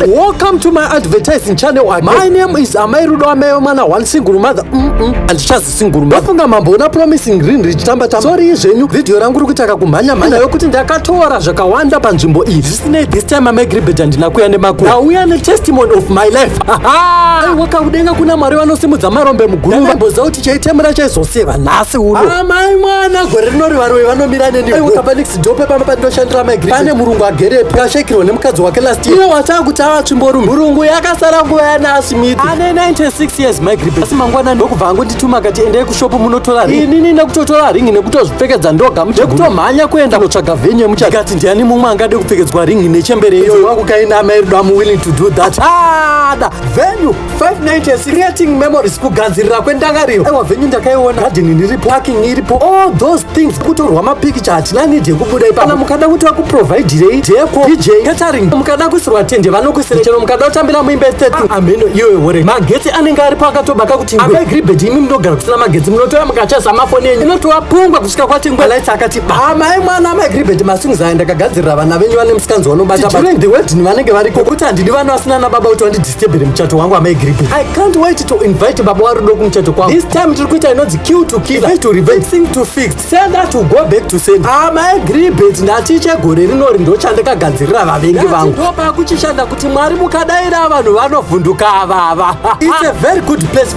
Welcome to my advertising channel. My name is Amai Rudo Amai Omana, one single mother. Mm -mm. And she's single mother. Wafunga mambo una promising green rich tamba tamba. Sorry zvenyu, video rangu riri kuita kakumhanya mhanya yokuti ndakatora zvakawanda panzvimbo iyi. Zvisinei this time Amai Gribet handina kuya nemakuru. Ndauya ne testimony of my life. Ai wakakudenga kuna Mwari vanosimudza marombe muguruva. Ndakambozva kuti chaitemura chaizoseva nhasi uno. Amai mwana gore rino rivaroi vanomira neni. Ai wakabanikisa Sidope pamba pandoshandira Mai Grace pane murungu agerepo kashekirwa nemukadzi wake last year. Iye wataa kuti ava tsvimborume. Murungu yakasara nguva yana asimiti. Ane 96 years Mai Grace. Asi mangwana ndokubva angondituma akati endai kushopu munotora ring. Inini nekutotora ring nekutozvipfekedza ndoga muti. Nekutomhanya kuenda kunotsvaga venue yemuchato. Ndikati ndiani mumwe angade kupfekedzwa ring nechembere iyoyo. Wakukaina amai Rudo I'm willing to do that. Ada venue. 590 years creating memories kugadzirira kwendangariro aiwa venyu ndakaiona gadheni ndiri plucking iripo all those things kutorwa mapikicha hatina need yekubuda ipa kana mukada kuti vakuprovaidirei depo dj catering mukada kuisirwa tende vanokuisira chero mukada kutambira muimbe 30 amheno ah, iwe hore magetsi anenge aripo akatobaka kuti amagribed imi munogara kusina magetsi munotora mukachaisa mafoni enyu inotova pungwa kusvika kwati ngwa lights akati ba ah, amai mwana amagribed masings aya ndakagadzirira vana venyu vane musikanzi wanobata during the wedding vanenge variko kuti handidi vana vasina nababa kuti vandidis stebere muchato wangu amai gripi i can't wait to invite baba warudo kumuchato kwangu this time tiri kuita inonzi kill to kill fight to revenge thing to fix say that to go back to send amai gribet ndati chegore rinori ndochandakagadzirira vavengi vangu ndopa kuchishanda kuti mwari mukadaira vanhu vanovhunduka avava it's a very good place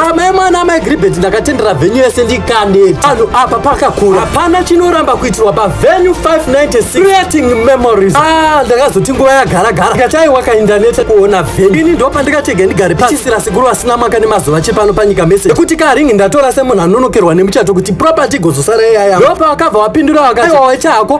amai mwana amai gribet ndakatendera venyu yese ndikaneti vanhu apa pakakura hapana chinoramba kuitirwa pavenue 596 memories ah, ndakazoti nguva yagaragara ndikati aiwa kaindaneta kuona venue ini ndopandikatege ndigare pachisira sekuru vasina mwaka nemazuva chepano panyika mese nekuti karingi ndatora semunhu anonokerwa nemuchato kuti property igozosara iyaya ndopa wakabva wapindura wakati aiwa waita hako